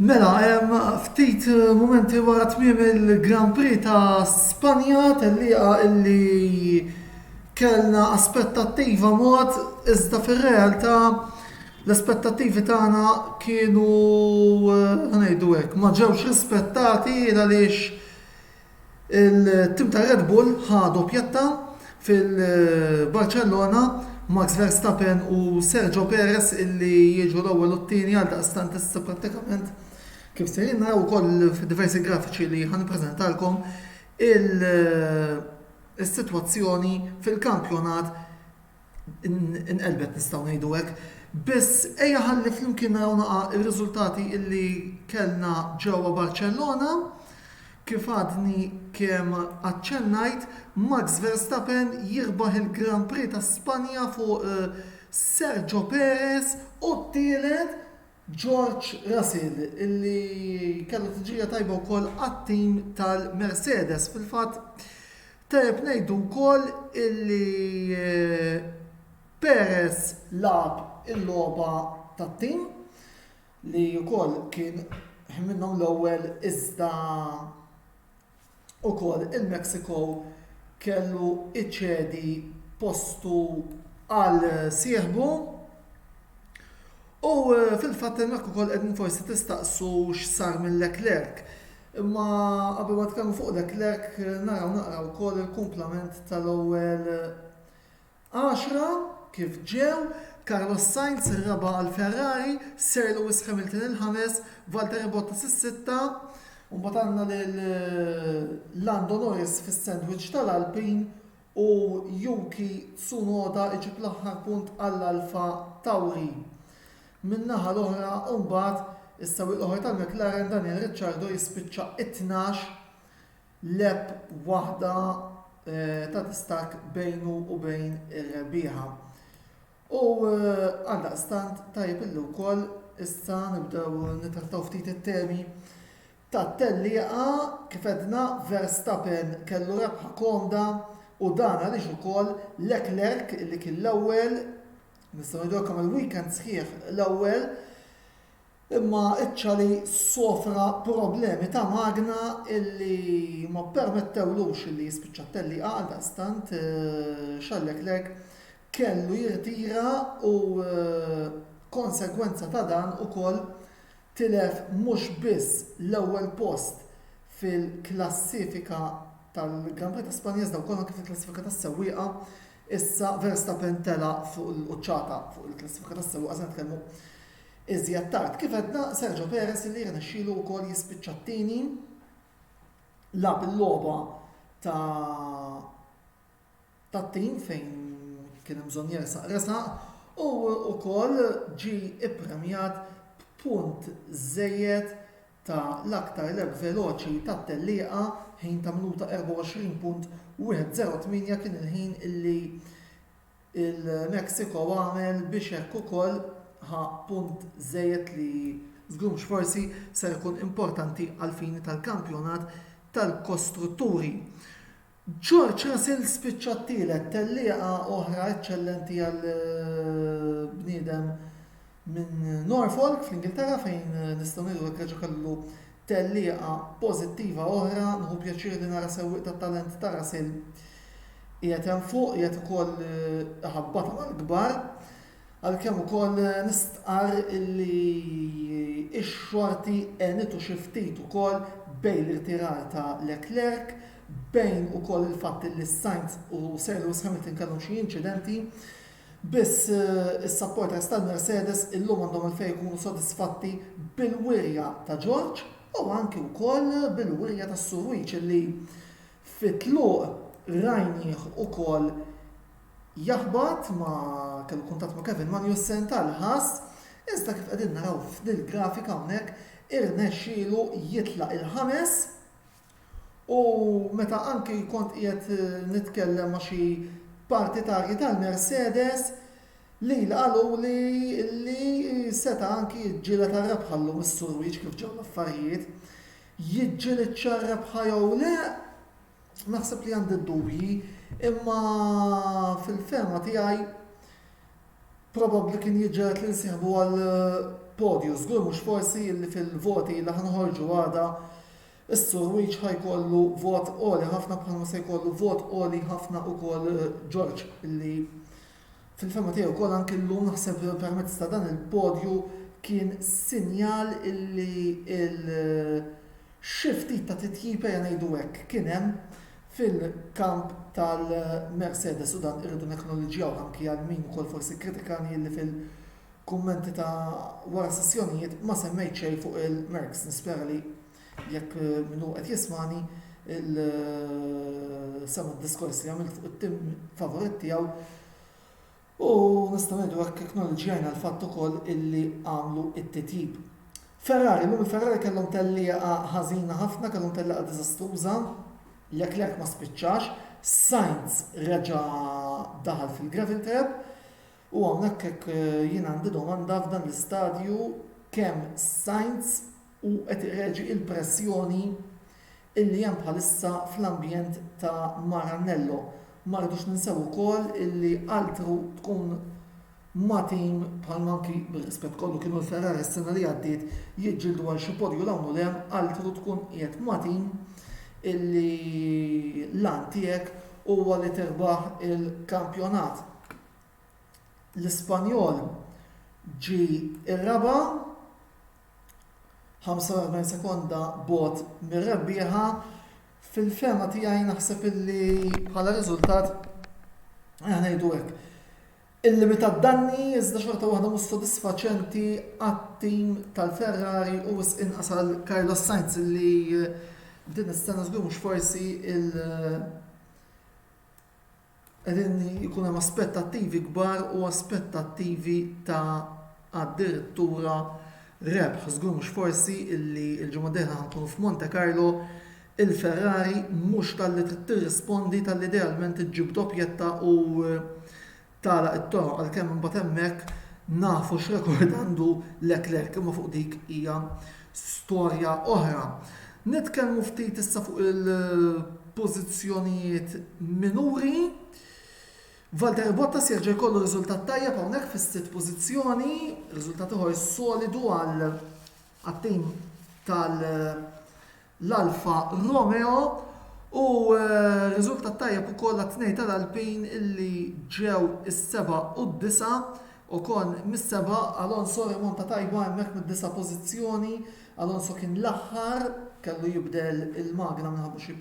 Mela, ftit mumenti wara tmiem il-Grand Prix ta' Spanja, tellieqa illi kellna aspettattiva mod, iżda fir-realtà l-aspettattivi tagħna kienu, ħa ngħidu hekk, ma ġewx rispettati għaliex, Il-tim ta' Red Bull ħa doppjetta fil-Barċellona, Max Verstappen u Sergio Perez illi jiġu l-ewwel u t-tieni għaldaqstant issa prattikament kif sejrin naraw ukoll fid-diversi grafiċi li ħa nippreżentalkom is-sitwazzjoni fil-kampjonat inqelbet nistgħu ngħidu hekk. Biss ejja ħalli flimkien naraw naqa' r-riżultati li kellna ġewwa Barċellona. Kif għadni kemm aċċennajt, Max Verstappen jirbaħ il-Grand Prix ta' Spanja fuq Sergio Perez u t-tielet George Russell illi kellu tiġrija tajba wkoll għat-tim tal-Mercedes. Fil-fatt tajjeb ngħidu wkoll illi Perez lagħab il-logħba tat-tim li wkoll kien minnhom l-ewwel iżda ukoll il-Mexico kellu iċedi postu għal sieħbu u fil-fatt hemmhekk ukoll qegħdin forsi tistaqsu x'sar minn Leclerc. Imma qabel ma nitkellmu fuq Leclerc naraw naqraw ukoll il-kumplament tal-ewwel Għaxra, kif ġew, Carlos Sainz ir-raba' għal Ferrari, Sir Lewis Hamilton il-ħames, Valtteri Bottas is-sitta, u mbagħad għandna lil Lando Norris fis-sandwich tal-Alpine u Yuki Tsunoda iġib l-aħħar punt għall-Alpha Tauri. Min-naħa l-oħra mbagħad is-sewwieq l-oħra tal-McLaren Daniel Ricciardo jispiċċa t-tnax Lgħeb waħda ta' distakk bejnu u bejn ir-rebbieħa u għaldaqstant tajjeb illi wkoll issa nibdew nittrattaw ftit it-temi tat-tellieqa. Kif għedna, Verstappen kellu rebħa komda u dan għaliex ukoll Leclerc li kien l-ewwel, nistgħu ngħidulkom il-weekend sħiħ l-ewwel, Imma iċ-Chali sofra problemi ta' magna illi ma ppermettewlux illi jispiċċa t-tellieqa għaldaqstant Xalleklek kellu jirtira u konsegwenza ta' dan ukoll tilef mhux biss l-ewwel post fil-klassifika tal-Gran Prix ta' Spanja iżda wkoll anke fil-klassifika tas-sewwieqa. Issa Verstappen tela' fuq il-quċċata fuq il-klassifika tas-sewwieqa se nitkellmu Iżjed tard, kif għedna, Sergio Perez li rnexxielu wkoll jispiċċa t-tieni, lagħab il-logħba ta' tat-tim fejn kien hemm bżonn jersaq resaq u wkoll ġie ippremjat b'punt żejjed ta' l-aktar leb veloċi tat-tellieqa, ħin ta' minuta 24.108 kien il-ħin li Il-Mexico għamel biex hekk ukoll ħa punt żejjed li żgur mhux forsi ser ikun importanti għall-fini tal-kampjonat tal-kostrutturi. George Russell spiċċa t-tielet, tellieqa oħra eċċellenti għal bniedem minn Norfolk fl-Ingilterra fejn nistgħu ngħidu hekk reġa' kellu Tellieqa pożittiva oħra, nieħu pjaċir li nara sewwieq tat-talent ta' Ras il qiegħed hemm fuq, qiegħed ukoll iħabbatha mal-kbar, għalkemm ukoll nistqarr illi x-xorti għenitu xi ftit ukoll bejn l-irtirar ta' Leclerc, bejn ukoll il-fatt illi Sainz u Lewis Hamilton kellhom xi inċidenti. Biss, is-supporters tal-Mercedes illum għandhom għalfejn ikunu sodisfatti bil-wirja ta' George u anki wkoll bil-wirja ta' Surujic li fit-tluq rajnieh ukoll jaħbat ma' kellu kuntatt ma' Kevin Magnussen tal-ħass iżda kif qegħdin naraw f'dil-grafika hawnhekk irnexxielu jitlaq il-ħames U meta anki kont qiegħed nitkellem ma' xi partitarji tal-Mercedes li qaluli li seta' anki jiġġieled għar-rebħa llum is-Sur Wieġ kif ġew l-affarijiet. Jiġġilidx għar-rebħa jew le? Naħseb li għandi d-dubji, imma fil-fehma tiegħi probabbli kien jiġġeled li nsieħbu għall-podju, żgur mhux forsi li fil-voti li ħa noħorġu għada Is-Sur Wijch ħa jkollu vot għoli ħafna bħalma se jkollu vot għoli ħafna wkoll George li fil-fehma tiegħi wkoll anki llum naħseb permezz ta' dan il-podju kien sinjal illi il xi ftit ta' titjib ejja ngħidu hekk kien hemm fil-kamp tal-Mercedes u dan irridu neknoliġġjaw anki għal min ukoll forsi kkritikani illi fil- Kummenti ta' wara s-sessjonijiet ma semmejt xejn fuq il-Mercs, nispera li jekk min hu qed jismagħni il sema' d-diskors li għamilt fuq it-tim favorit tiegħu u nistgħu ngħidu hekk eknoliġġjajna l-fatt ukoll illi għamlu t-titjib. Ferrari, illum il-Ferrari kellhom tellieqa ħażina ħafna, kellhom tellieqa diżastruża, Leclerc ma spiċċax, Sainz reġa' daħal fil-gravel trap, U hawnhekk hekk jien għandi domanda f'dan l-istadju kemm Sainz hu qed ireġi il-pressjoni illi hemm bħalissa fl-ambjent ta' Maranello. Ma rridux ninsew ukoll illi altru tkun ma' team bħal ma anki bir-rispett kollu kienu l-Ferrari s-sena li għaddiet jiġġieldu għal xi podju 'l hawn u 'l hemm, altru tkun qiegħed ma' team illi l-għan tiegħek huwa li tirbaħ il-kampjonat. l-Ispanjol ġie r-raba' 45 sekonda bogħod mir-rebbieħa. Fil-fehma tiegħi naħseb illi bħala riżultat aħna ngħidu hekk. Illimitat danni iżda xorta waħda mhux sodisfaċenti għat-tim tal-Ferrari u wisq inqas għal Carlos Sainz li din is-sena żgur mhux forsi il- Qegħdin ikun hemm aspettattivi kbar u aspettattivi ta' addirittura rebħ. Żgur mhux forsi illi l-ġimgħa d-dieħla ħa nkunu f'Monte Carlo, il-Ferrari mhux talli trid tirrispondi talli idealment iġġib doppjetta u tagħlaq it-toroq għalkemm imbagħad hemmhekk nafu x'rekord għandu Leclerc imma fuq dik hija storja oħra. Nitkellmu ftit issa fuq il-pożizzjonijiet minuri. Valtteri Bottas jerġa' jkollu riżultat tajjeb hawnhekk fis-sitt pożizzjoni, riżultat ieħor solidu għal għat-tim tal-Alfa Romeo u eh, riżultat tajjeb ukoll għat-tnej tal-Alpin illi ġew is-seba' u d-disa' Ocon mis-seba', Alonso rimonta tajba hemmhekk mid-disa' pożizzjoni, Alonso kien l-aħħar, kellu jibdel il-magna minħabba xi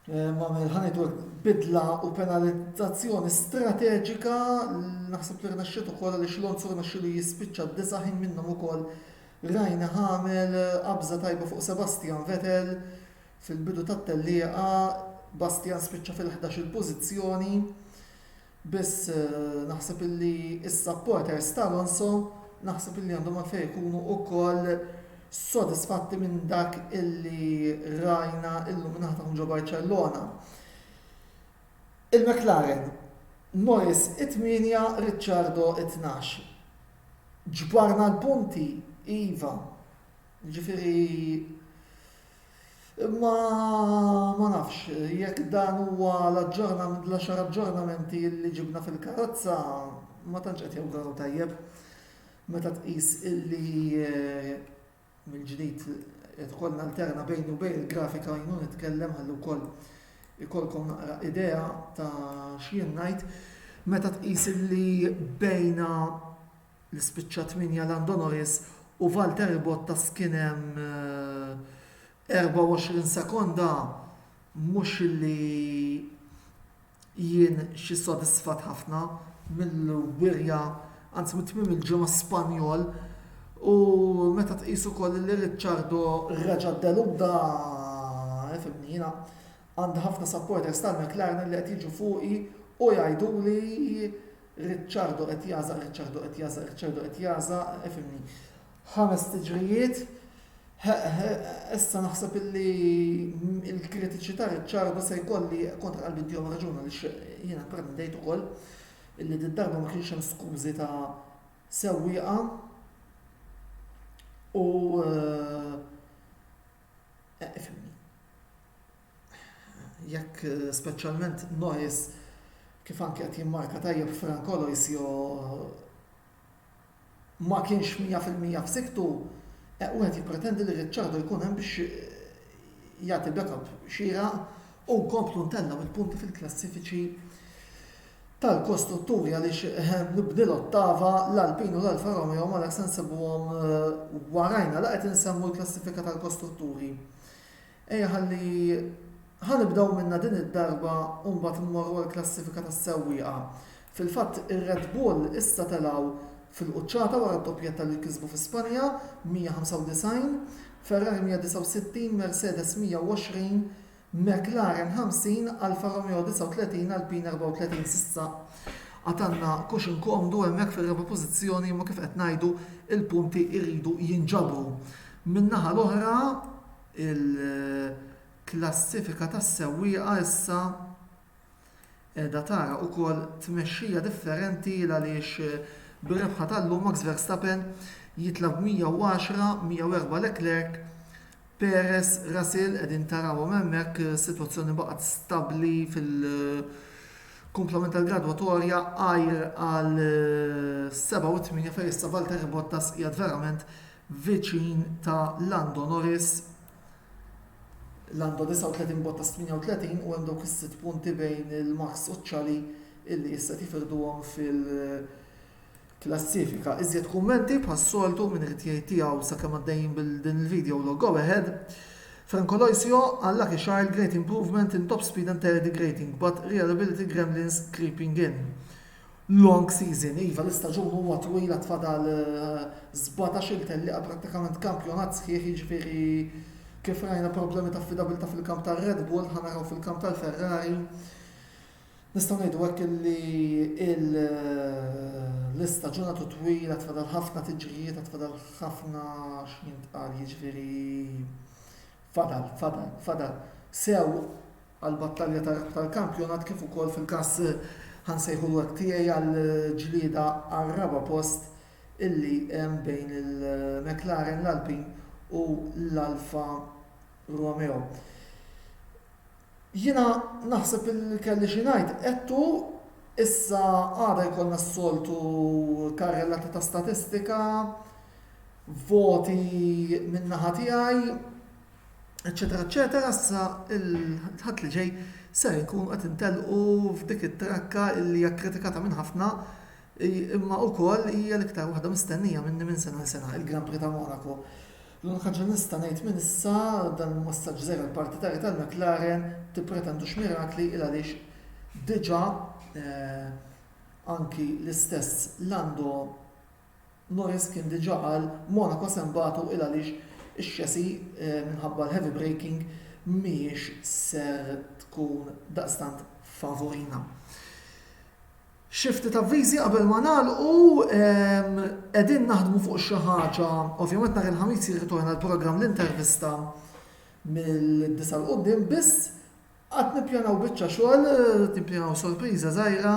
Għamel ħa ngħidu bidla u penalizzazzjoni strateġika naħseb li rnexxiet ukoll għaliex Lonzo rnexxielu jispiċċa d-disa' ħin minnhom ukoll rajna ħamel qabża tajba fuq Sebastian Vettel fil-bidu tat-tellieqa Bastian spiċċa fil-11 il-pożizzjoni Biss naħseb illi s-supporters ta' Alonso naħseb illi għandhom għalfejn ikunu wkoll sodisfatti minn dak illi rajna illum min-naħa tagħhom ġo Barċellona. Il-McLaren, Norris it-tmienja, Ricciardo it-tnax. Ġbarna l-punti, iva. Ġifieri Imma ma nafx jekk dan huwa l-aġġornament, l-għaxar aġġornamenti li ġibna fil-karozza ma tantx qed jawguraw tajjeb meta tqis illi mill-ġdid qed ukoll nalterna bejni u bejn il-grafika jien u nitkellem ħalli wkoll ikollkom naqra idea ta' x'jien ngħid. Meta tqis illi bejna li spiċċa tmienja Lando Norris u Valtteri Bottas kien hemm 24 sekonda mhux li jien xi sodisfat ħafna mill-wirja anzi minn tmiem il-ġimgħa Spanjol u meta tqis ukoll li Ricciardo reġa' ddeludda fimni jiena Għandi ħafna supporters tal-McLaren li qed jiġu fuqi u jgħiduli Ricciardo qed jagħżaq, Ricciardo qed jagħżaq, Ricciardo qed jagħżaq, ifhimni. Ħames tiġrijiet, issa naħseb illi l-kritiċità Ricciardo se jkolli kontra qalbi ddihom raġuna li jiena pprendejt ukoll illi d-darba ma kienx hemm skużi ta' sewwieqa u eh, jekk speċjalment Noes kif anki qed jimmarka tajjeb Frank Aloisio ma kienx 100% f'sikktu, wieħed jippretendi li Ricciardo jkun hemm biex jagħti backup xieraq u nkomplu ntellgħu l-punti fil-klassifiċi tal-kostrutturi għaliex nibni l-ottava, l-Alpine u l-Alfa Romeo ma nafx se nsibuhom warajna la qed insemmu l-klassifika tal-kostrutturi. Ejja ħalli ħa nibdew minnha din id-darba u mbagħad immorru għall-klassifika tas-sewwieqa. Fil-fatt ir-Red Bull issa telgħu fil-quċċata wara d-doppjetta li kisbu fi Spanja, 195, Ferrari 169, Mercedes 120, McLaren 50, Alfa Romeo 39, Alpine 34 s'issa għad għandna cushion komdu hemmhekk fir-raba' pożizzjoni imma kif qed ngħidu l-punti jridu jinġabru. Min-naħa l-oħra il-klassifika tas-sewwieqa issa Qiegħda tara ukoll tmexxija differenti il għaliex bir-rebħa tal-lum Max Verstappen jitlgħa b' 110, 104 Leclerc, Perez, Russell qegħdin tarawhom hemmhekk sitwazzjoni baqgħet stabbli fil-kumplament tal-gradwatorja għajr għal 7 u 8 fejn issa Valtteri Bottas qiegħed verament viċin ta' Lando Norris. Landa 39 bogħod ta' 38 u hemm dawk is-sitt punti bejn il-Max u ċ-Chali illi issa qed jifirduhom fil-klassifika. Iżjed kummenti bħas-soltu min irid jgħid tiegħu sakemm għaddejjin bil din il-video u l-go ahead. Franco Loisio, Unlucky child, great improvement in top speed and terridy grating, but reliability gremlins creeping in. Long season, iva l-istaġun huwa twil għad fadal sbatax-il tellieqa prattikament kampjonat sħiħ jiġifieri kif rajna problemi ta' affidabilità fil-kamp tar-Red Bull ħa naraw fil-kamp tal-Ferrari. Nistgħu ngħidu hekk illi l-istaġun għadu twil għad fadal ħafna tiġrijiet għad fadal ħafna x'jintqal jiġifieri fadal fadal fadal sew għall-battalja tal-kampjonat kif ukoll fil-każ, ħa nsejħulu hekk, tiegħi għall-ġlieda għar-raba' post illi hemm bejn il-McLaren, l-Alpine u l-Alfa Romeo. Jiena naħseb illi kelli xi ngħid, għedtu, issa għada jkollna s-soltu karrellata ta' statistika, voti min-naħa tiegħi. eċċetera eċċetera issa l-Ħadd li ġej ser inkunu qed intelqu f'dik it-trakka li hija kkritikata minn ħafna imma wkoll hija l-iktar waħda mistennija minni minn sena għal sena, il-Grand Prix ta' Monaco. L-unika ħaġa li nista' ngħid minn issa, dan hu messaġġ żgħir għall-partitarji tal-McLaren, tippretendux mirakli il għaliex diġà anki l-istess Lando Norris kien diġà qal Monaco se nbatu 'l għaliex ix-chassis minħabba l-heavy braking mhijiex ser tkun daqstant tfavurina. Xi ftit avviżi qabel ma nagħlqu, qegħdin naħdmu fuq xi ħaġa, ovvjament nhar il-Ħamis jirritorna l-programm L-Intervista mill-disa' 'l quddiem biss, Qed nippjanaw biċċa xogħol, qed nippjanaw sorpriża żgħira,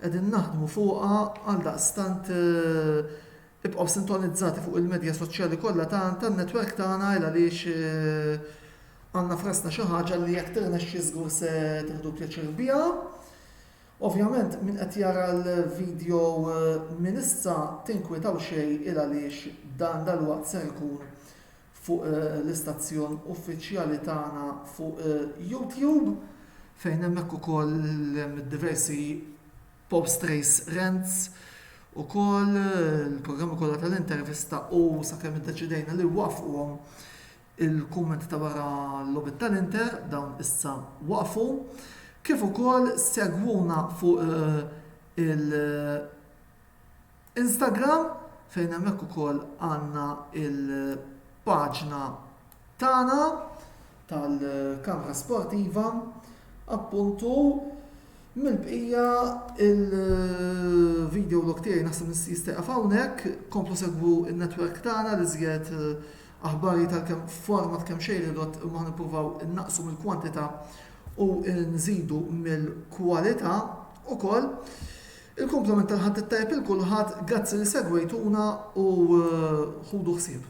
qegħdin naħdmu fuqha, għaldaqstant ibqgħu sintonizzati fuq il-medja soċjali kollha tan-netwerk tagħna għaliex għandna f'rasna xi ħaġa li jekk tirnexxi żgur se tieħdu pjaċir biha. Ovvjament min qed jara l-video minn issa tinkwitaw xejn il għaliex dan dalwaqt ser ikun fuq l-istazzjon uffiċjali tagħna fuq YouTube fejn hemmhekk ukoll hemm id-diversi post race rants ukoll il-programmi kollha tal-intervista u sakemm iddeċidejna li waqfuhom il-kummenti ta' wara l-logħbiet tal-Inter dawn issa waqfu kif ukoll segwuna fuq il- Instagram fejn hemmhekk ukoll għandna l-paġna tagħna tal-Kamra Sportiva appuntu mill-bqija il-video log tiegħi naħseb jista' jieqaf hawnhekk, komplu segwu n-netwerk tagħna l-iżjed aħbar hi tal-kemm format kemm xejn ridott imma ħa nippruvaw innaqsu mill-kwantità u nżidu mill-kwalità ukoll. Il-kumplament tal-Ħadd it-Tajjeb il kulħadd gazzi li segwejtuna u ħudu ħsieb.